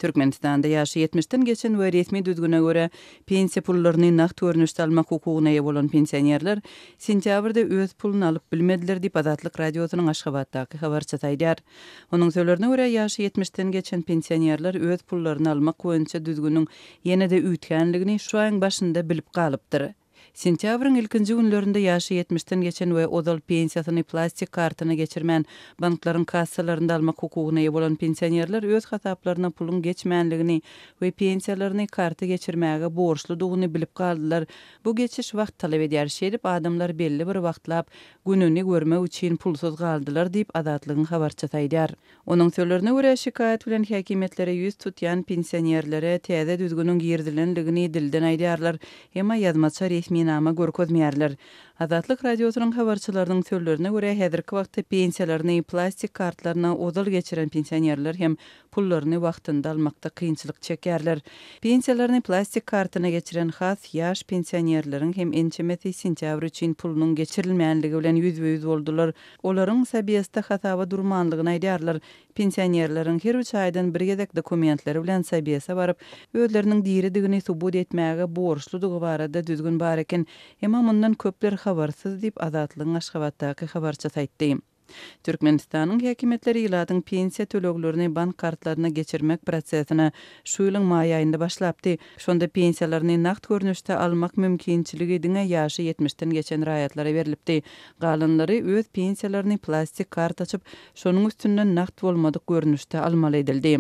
Türkmenistanda ýaşy ýetmişden geçen we resmi düzgüne görä pensiýa pullaryny nagt görnüşde almak hukugyna eýe bolan pensionerler sentýabrda öz puluny alyp bilmediler diýip, Azatlyk Radiosynyň Aşgabatdaky habarçysy aýdýar. Onuň sölerine görä, ýaşy ýetmişden geçen pensionerler öz pullaryny almak boýunça düzgüniň ýene-de üýtgänligini şu aýyň başynda bilip galypdyr. Sentýabryň ilkinji günlerinde ýaşy ýetmişden geçen we ozal pensiýasyny plastik kartyna geçirmän, banklaryň kassalarynda almak hukugyna eýe bolan pensionerler öz hasaplaryna puluň geçmänligini we pensiýalaryny karta geçirmäge borçludygyny bilip galdylar. Bu geçiş wagt talap edýär. Şeýdip, adamlar belli bir wagtlap gününi görmek üçin pulsuz galdylar diýip, Azatlygyň habarçysy aýdýar. Onuň sözlerine görä, şikaýat bilen häkimiýetlere ýüz tutýan pensionerlere täze düzgüniň girizilendigini dilden aýdýarlar, emma ýazmaça resminama görkezmeýärler. Azatlyk Radiosynyň habarçylarynyň sözlerine görä, häzirki wagtda pensiýalaryny plastik kartlaryna ozal geçiren pensionerler hem pullaryny wagtynda almakda kynçylyk çekýärler. Pensiýalaryny plastik kartyna geçiren has ýaş pensionerleriň hem ençemesi sentýabr üçin pulunyň geçirilmänligi bilen ýüzbe-ýüz boldular. Olaryň Sabesde hasaba durmanlygyny aýdýarlar. Pensionerleriň her üç aýdan bir gezek dokumentleri bilen Sabese baryp, özleriniň diridigini subut etmäge borçludygy barada düzgün bar eken. Emma mundan köpler habarsyz diýip, Azatlygyň Aşgabatdaky habarçysy aýtdy. Türkmenistanyň häkimiýetleri ilatyň pensiýa töleglerini bank kartlaryna geçirmek prosesini şu ýylyň maý aýynda başlapdy. Şonda pensiýalaryny nagt görnüşde almak mümkinçiligi diňe ýaşy ýetmişden geçen raýatlara berlipdi. Galanlary öz pensiýalaryny plastik karta açyp, şonuň üstünden nagt bolmadyk görnüşde almaly edildi.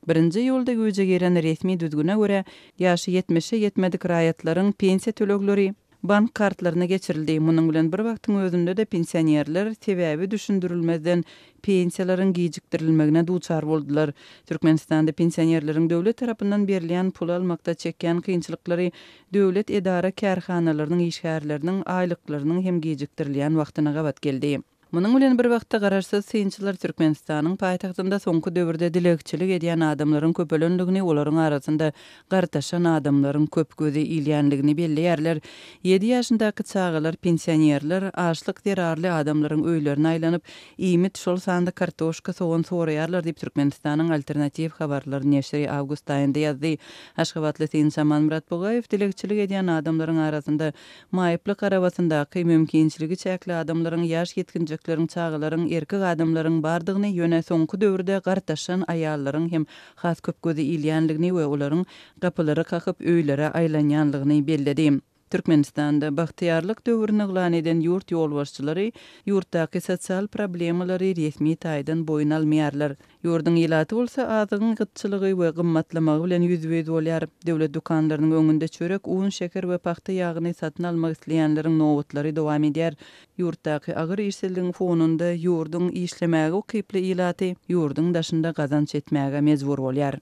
Birinji iýulda güýje giren resmi düzgüne görä, ýaşy ýetmişe ýetmedik raýatlaryň pensiýa tölegleri bank kartlaryna geçirildi. Munuň bilen bir wagtyň özünde-de pensionerler sebäbi düşündirilmezden pensiýalaryň gijikdirilmegine duçar boldular. Türkmenistanda pensionerleriň döwlet tarapyndan berilýän pul almakda çekýän kynçylyklary Döwlet edara-kärhanalarynyň işgärleriniň aýlyklarynyň hem gijikdirilýän wagtyna gabat geldi. Munuň bilen bir wagtda garaşsyz synçylar Türkmenistanyň paýtagtynda soňky döwürde dilegçilik edýän adamlaryň köpelendigini, olaryň arasynda gartaşan adamlaryň köp gözi ilýändigini belleýärler, ýedi ýaşyndaky çagalar, pensionerler, açlyk zerarly adamlaryň öýlerine aýlanyp, iýmit, şol sanda kartoşka, sogan soraýarlar diýip Türkmenistanyň Alternatiw habarlar neşiri awgust aýynda ýazdy. Aşgabatly synçy Amanmyrat Bugaýew dilegçilik edýän adamlaryň arasynda maýyplyk arabasyndaky, mümkinçiligi çäkli adamlaryň, ýaş ýetginjekleriň, çagalaryň, erkek adamlaryň bardygyny, ýöne soňky döwürde gartaşan aýallaryň hem has köp göze ilýänligini we olaryň gapylary kakyp, öýlere aýlanýanlygyny belledi. Türkmenistanda Bagtyýarlyk döwrüni yglan eden ýurt ýolbaşçylary ýurtdaky sosial problemalary resmi taýdan boýun almaýarlar. Ýurduň ilaty bolsa azygyň gytçylygy we gymmatlamagy bilen ýüzbe-ýüz bolýar. Döwlet dükanlarynyň öňünde çörek, un, şeker we pagta ýagyny satyn almak isleýänleriň nobatlary dowam edýär. Ýurtdaky agyr işsizligiň fonunda ýurduň işlemäge ukyply ilaty ýurduň daşynda gazanç etmäge mejbur bolýar.